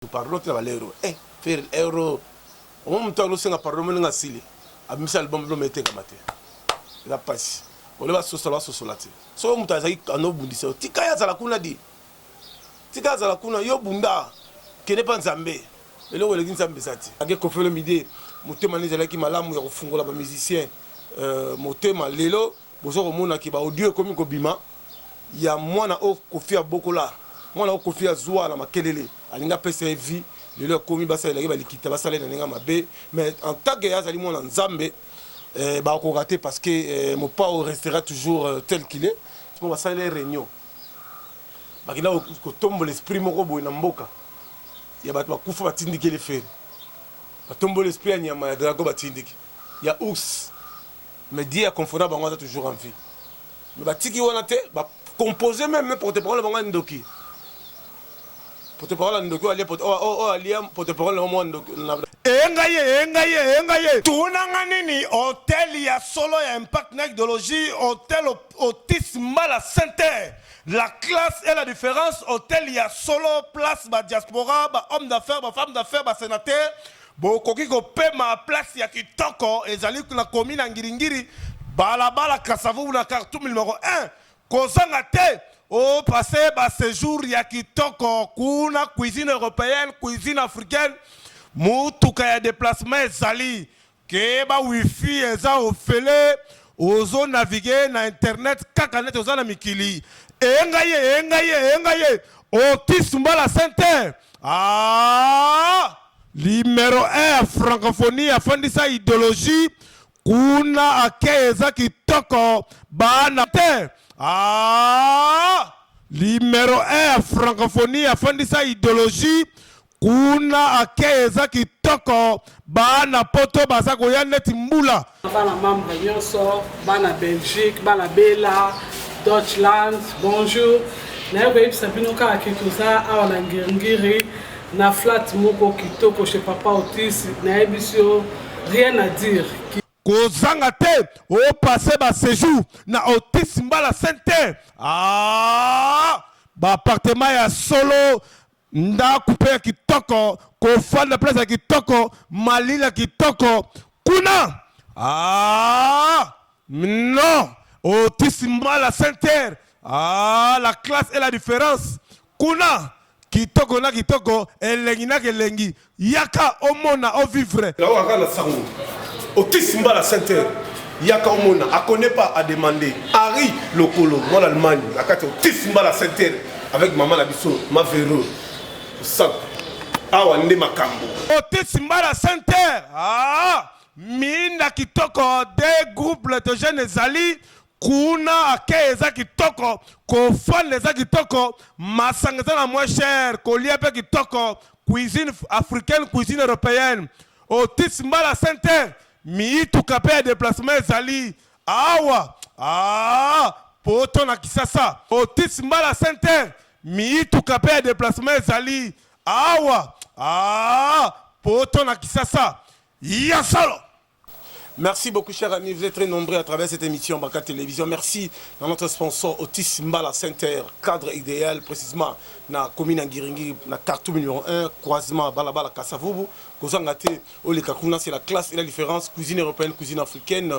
Yo pardon tina ba lero eh ferre lero omoni mutu azo senga pardon omoni ndenge asili abimisi album album etekama te eza pasi ole basosola basosola te soki mutu azali ano bundisa yo tika ye azala kuna di tika azala kuna yo bunda kende pa nzambe eloko eleki nzambe eza te age kofelo mide motema nde ezalaki malamu ya kofungola ba musicien euh, motema lelo Bozo komona que ba audio ekomi kobima ya mwana oyo Koffi abokola, mwana oyo Koffi azua na makelele, alingi apesa ye vie, lelo ekomi basalela ye ba likita, basala ye na ndenge ya mabe, mais en tant que ye azali mwana Nzambe, eh bakokoka te parce que Mopao restera toujours tel qu'il est. Sikoyo basalela ye reunion, bakenda kotombola esprit moko boye na mboka ya batu bakufa batindikeli Ferre, batomboli esprit ya nyama ya drago batindiki, ya ours. Mais Dieu a confona bango aza toujours en vie. Mais ba tiki wana te ba composer même mais porte parole bango ya ndoki. Porte parole ya ndoki alia porte oh oh alia porte parole na mwa ndoki. Eyenga ye, eyenga ye, eyenga ye. Tuna nga nini hotel ya solo ya impact na idologie hotel otis mbala sente la classe et la difference hotel ya solo place ba diaspora ba homme d'affaires ba femme d'affaires ba senateur Bokoki kopema place ya kitoko ezali na commune ya Ngiri-Ngiri, balabala Kasa-Vubu na Khartoum numero un. Kozanga te! O passer ba sejours ya kitoko kuna, cuisine europeenne, cuisine africaine, motuka ya deplacement ezali, keba wifi eza ofele, ozo naviguer na internet kaka neti oza na mikili. Ee ngai ye! Ee ngai ye! Ee ngai ye! Otis Mbala Center! Aah! Limero un ya francophonie afandisa ideologie kuna akei eza kitoko baana te ah! Limero un ya francophonie afandisa ideologie kuna akei eza kitoko baana poto baza koya neti mbula Bana membre nyonso, bana Belgique, bana Bela, Deutschland, bonjour. Naye koyebisa bino kaka ke toza awa na Ngirngiri na flat moko kitoko chez Papa Otis, nayebisi yo rien à dire. Kozanga te o passer ba sejour na Otis mbala center. Aah! Ba appartement ya solo Ndaku pe ya kitoko, kofanda place ya kitoko, malila kitoko kuna aah non Otis Mbala Center aah la classe et la difference kuna kitoko na kitoko, elengi na kelengi Yaka omona o vivre. Nao kaka na sango otis mbala center yaka omona a connait pas a demande Harry lokolo mwana Allemagne na kati otis mbala center avec maman na biso ma vero osako awa nde makambo. Otis mbala center aah miinda kitoko de groupe le de jeune ezali. Kuna accueil eza kitoko, kofanda eza kitoko, masanga eza na moins cher, kolia pe kitoko, cuisine africaine, cuisine europeenne. Otis Mbala Center, miituka pe ya deplacement ezali awa aah poto na kisasa. Otis Mbala Center, miituka pe ya deplacement ezali awa aah poto na kisasa. Ya solo! Merci beaucoup, cher ami. Vous êtes très nombreux à travers cette émission Baka Télévision. Merci à notre sponsor Otis Mbala Center, cadre idéal, précisément dans la commune Angiringi, dans carton numéro 1, croisement Balabala Kassavubu. Kozangate, Olekakuna, c'est la classe et la différence. Cuisine européenne, cuisine africaine.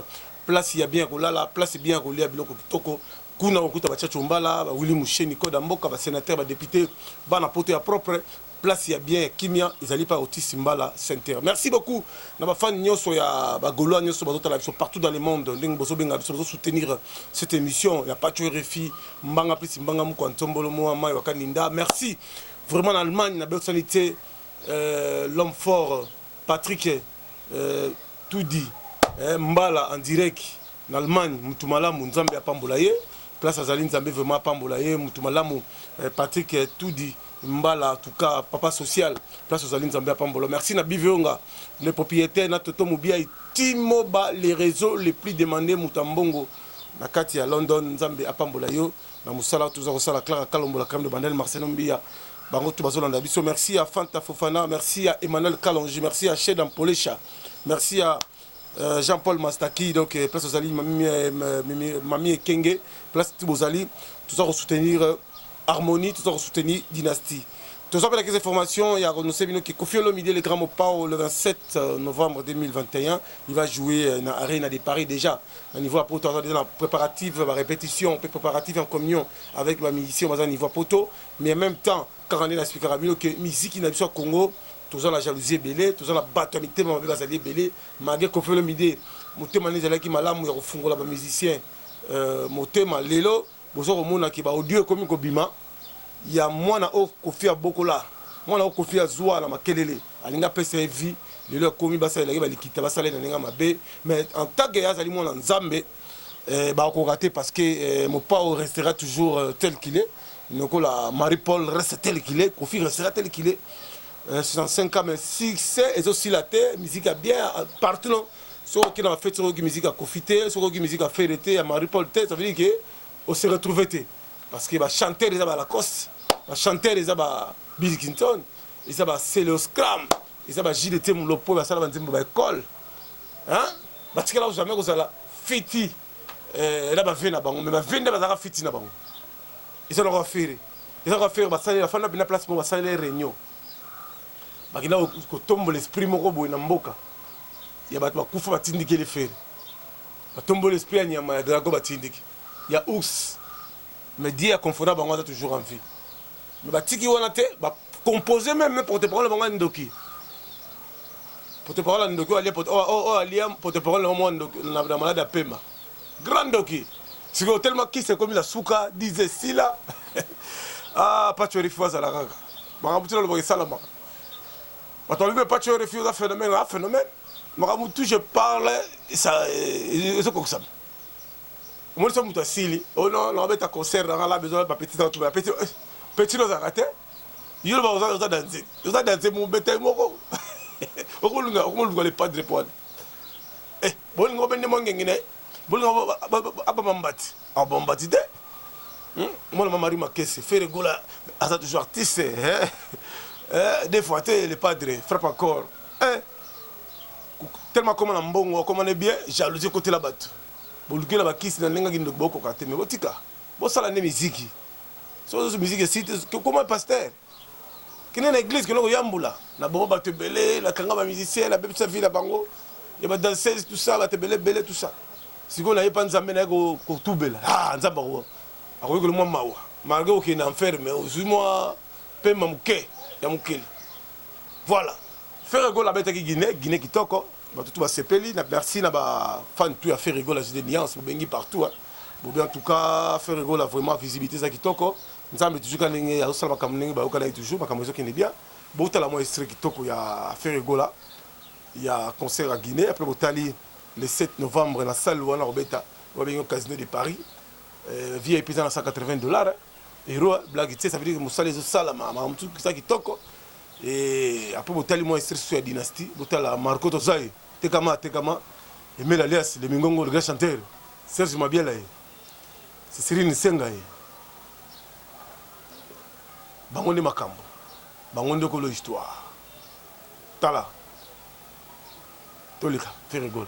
Place, il y a bien la place, bien qu'on à Biloko Kitoko. kuna okokuta bachacho mbala bawili musheni koda mboka basenateur badepute bana poto ya propre Place ya bien ya kimia ezali pa Otis Mbala center. Merci beaucoup na ba fans nionso ya ba golois nionso bazo tala biso partout dans le monde ndenge bozo benga biso bozo soutenir cette emission ya Patsho Rfi mbanga plus mbanga mukwa ntombolo mua mayi wa kaninda merci vraiment na Allemagne na bosani te euh, l'homme fort Patrick eh tout dit eh mbala en direc na Allemagne mutu malamu nzambe apambola ye place azali nzambe vraiment apambola ye mutu malamu eh, Patrick eh, tout dit mbala en tout cas papa social place ozali nzambe apambola merci na bivionga le propriétaire na toto mobiai timoba les réseaux les plus demandés mutu ya mbongo na kati ya London nzambe apambola yo na musala toza kosala Clara Kalombo la crème de bandel Marcelo Mbiya bango tout bazolanda biso merci ya Fanta Fofana merci ya Emmanuel Kalonji merci ya Sheda Mpolesha merci ya Euh, Jean-Paul Mastaki, donc euh, place Ozali, Mami, euh, Mami, Mami Ekenge, place Tibozali, tout ça pour soutenir Harmonie, tout ça pour soutenir Dynastie. Tout ça pour les informations, il y a Renosé Bino qui confie le midi, le grand Mopao, le 27 novembre 2021, il va jouer dans l'Arena de Paris déjà. Na niveau ya poto aza deja na preparative ya ba repetition pe preparative ya communion avec ba musiciens baza niveau ya poto mais en même temps kaka nde na explikaka bino que miziki na biso ya Congo toza na jalousie ebele toza na bato ya mitema mabe bazali ebele malgre Koffi Olomide motema nde ezalaki malamu ya kofungola ba musiciens euh, motema lelo Bozo komona que ba audio ekomi kobima ya mwana oyo Koffi abokola, mwana oyo Koffi azua na makelele, alingi apesa ye vie, lelo ekomi basalela ye ba likita, basala ye na ndenge ya mabe, mais en tant que azali mwana Nzambe, eh, bakokoka te parce que eh, Mopao restera toujours tel qu'il est, lokola Marie Paul reste tel qu'il est, Koffi restera tel qu'il est, eh, 65 ans mais succès ezo sila te, musique ya bien partout, non? Soki okende na fete soki oyoki musique ya Koffi te, soki oyoki musique ya Ferre te, ya Marie Paul te, ça veut dire que o se retrouver te. Parce que ba chanteurs eza ba Lacoste, ba chanteurs eza ba Bill Clinton, eza ba Celeo Scram, eza ba Gilles Temu Lopo basala ba nzembo ba école. Hein? Batikala ko jamais kozala fiti eh, na ba vie na bango, mais ba vie nde bazalaka fiti na bango. Eza na kwa Ferre. Eza kwa Ferre basali afanda bina place mo basali réunion. Bakenda kotombola esprit moko boye na mboka ya bato bakufa batindiki ele Ferre. Batomboli esprit ya nyama ya dragon batindiki ya ours mais Dieu aconforta bango aza toujours en vie. Mais batiki wana te ba composer meme ne porte parole bango ya ndoki. Porte parole ya ndoki alia porte oh oh alia porte parole na mwana ndoki na malade ya pema. Grand ndoki. Siko tellement kisa ekomi na suka dize sila. ah Pacho Rifu azala kaka. Makambo ti nalobaka esalamaka. Bato balobi epa coeur fi oza phenomène nga phenomène. Makambo tout je parle esa ezo kokisama. Omoni so moto asili oh non na obeta concert na nga la besoin ba petit na tuba petit eh, petit no zaka te. Yo loba oza oza danze. Oza danze mo beta moko. Okolunga okolunga le padre poane. Eh, bolingo bende mo ngengine. Bolingo abamambati. Ah bon mbadi de hum mwana ma Marie Makese Ferre Gola aza toujours artiste eh eh des fois te le padre frappe encore eh tellement akoma na mbongo akoma ne bien jalousie ekotela bato boluki na bakisi na ndenge kindoki bokoka te me botika bosala nde miziki soki ozosu miziki esite kokoma pasteur Kende na eglise kende koyambula na boma bato ebele na kanga ba musicien na bebisa vie na bango ya ba danseuse tout ça bato ebele ebele tout ça sikoyo naye pa nzambe naye kotubela ah nzambe ako akoyokela mwa mawa malgre okende na enfer mais ozwi mwa pema moke ya mokili voilà Ferre Gola abetaki Guinée, Guinée kitoko, bato tout basepeli na merci na ba fans tout ya Ferre Gola Jide Nuance bobengi partout hein. Bobi en tout cas Ferre Gola vraiment visibilité eza kitoko, Nzambe toujours ka ndenge azo sala makambo ndenge ba yokana ye toujours makambo ezo kende bien bo tala mwa extrait kitoko ya Ferre Gola ya concert ya Guinée après bo tali le 7 novembre na salle wana ko beta ba bengi Casino de Paris euh, VIP eza na 180 dollars euro blague tse ça veut dire que musala ezo sala ma ma mutu kisa kitoko et après bo tali mwa extrait sur ya dynastie bo tala Marco Tozai tekama tekama Emile alias le Mingongo le grand chanteur Serge Mabiela ye Sisirine senga ye bango nde makambo bango nde kolo histoire tala toleka ferigolo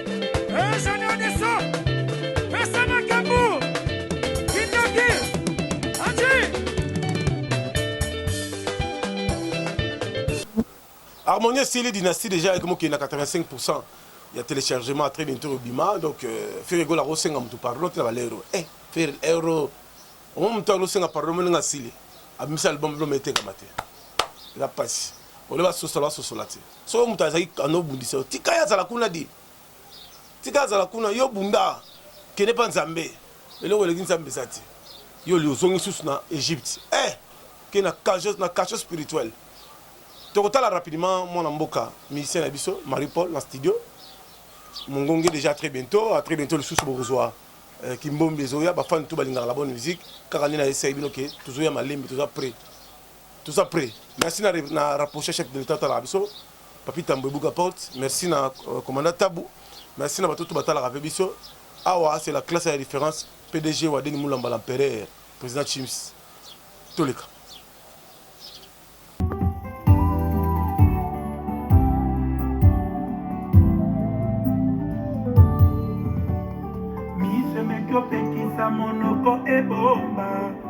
harmonie esili dynastie déjà ayaki mokili na 85 pourcent ya téléchargement très bientôt obima donc euh, fere egola akosenga motu pardon te na balero e eh, fere ero omo motu akosenga pardon moninga asili abimisa album biloma etekama te eza mpasi oleba sosola basosola te Soki mutu azali kanda obundisa yo tika ye azala kuna di tika azala kuna yo bunda kende pa nzambe eloko eleki nzambe eza te yo li ozongi susu na Egypte eh ke na cajo na cacho spirituel tokotala rapidement mwana mboka musicien na biso Marie Paul na studio mongonge déjà très bientôt à très bientôt lisusu bokozwa eh, kimbombi ezoya bafani tu balingaka la bonne musique kaka nde na esai bino ke tozoya malembe toza près Toza prêt. Merci na na rapprocher chef de l'État talaka biso. Papi Tambo ebuka porte. Merci na euh, commandant Tabu. Merci na batoto batalaka pe biso. Awa c'est la classe ya référence PDG Wadeni Mulamba l'empereur président Chims. Toleka. Misemeki opekisa monoko ebomba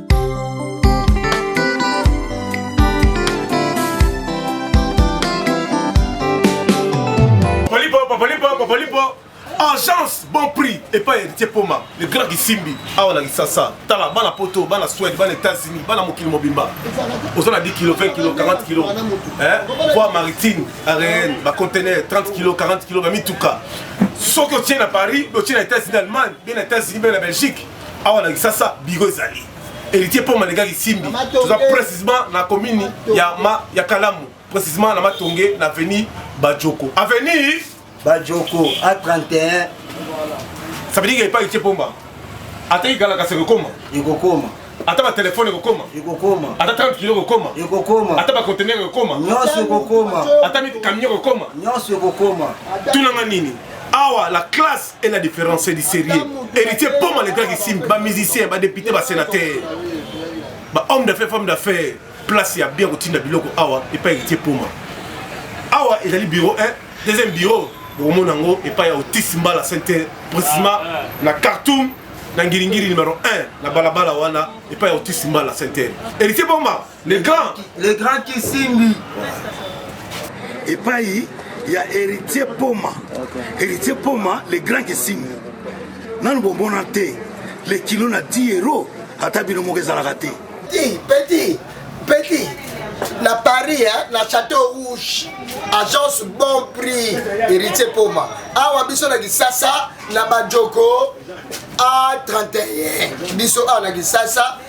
agence bon prix epai ya heritier poma le grand kisimbi awa na kisasa tala bana poto bana swede bana états-unis bana mokili mobimba oza na 10 kilo 20 kilo 40 kilo voi maritime aréenne bacontenaire 30 kilo 40 kilo bamituka soki otie na paris otie na états-unis allemagne be na états-unis be na belgique awa na kisasa biro ezali héritier poma alekaki simbi toza précisement na commune ya, ma, ya kalamu précisement na matonge na avenue bajoko avenue bajoko a 31 ça veut dire epai héritier poma ataki kala kasi ekokoma ekokoma ata batelefone ekokoma ekokoma ata 30 kilo ekokoma ekokoma ata bacontener ekokoma nyonso ekokoma ata mikamio ekokoma nyonso ekokoma tunanga nini awa la classe et la différence c'est du sérieux héritier poma le grand ici ba musicien ba député ba sénateur ba homme d'affaires femme d'affaires place ya bien kotinda biloko awa epai héritier poma awa ezali bureau 1 deuxième bureau bokomona yango epai ya otis mbala center précisement na cartoum na ngiringiri numero 1 na balabala wana epai ya otis mbala center héritier poma le grand le grand kisimbi epai ya héritier poma héritier poma le grand kisimbi nanu bomona te le kilo na 10 euro ata bino moko ezalaka te petit petit petit na paris eh, na château rouge agence bon prix héritier poma awa biso na kisasa na bajoko a 31 biso awa na kisasa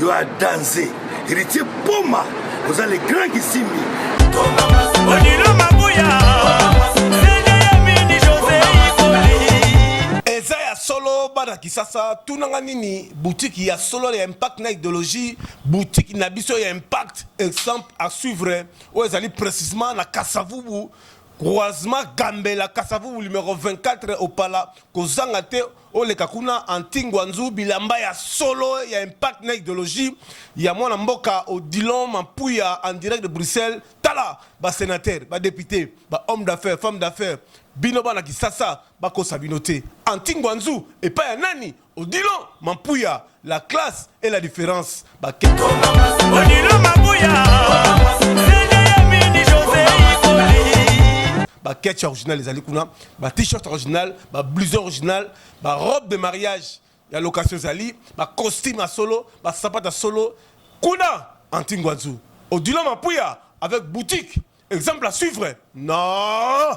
yo a danze héritier poma oza le grand kisimbi odilo mabuya eza ya solo bana kisasa tunanga nini butiki ya solo ya impact na idéologie butiki na biso ya impact exemple à suivre oyo ezali précisement na kasavubu croisement gambela kasavubu numero 24 opala kozanga te Oleka kuna Anti-Nguanzu bilamba ya solo ya impact na ideologie ya mwana mboka Odilon Mampuya en direct de Bruxelles tala ba senateurs, ba deputes, ba hommes d'affaires, femmes d'affaires bino bana kisasa bakosa bino te Anti-Nguanzu epai ya nani? Odilon Mampuya La classe et la difference ba Odilo Mabuya ba ketch original ezali kuna ba t-shirt original ba blouson original ba robe de mariage ya location ezali ba costume ya solo ba sapata solo kuna antingwanzu odilo mapuya avec boutique exemple à suivre non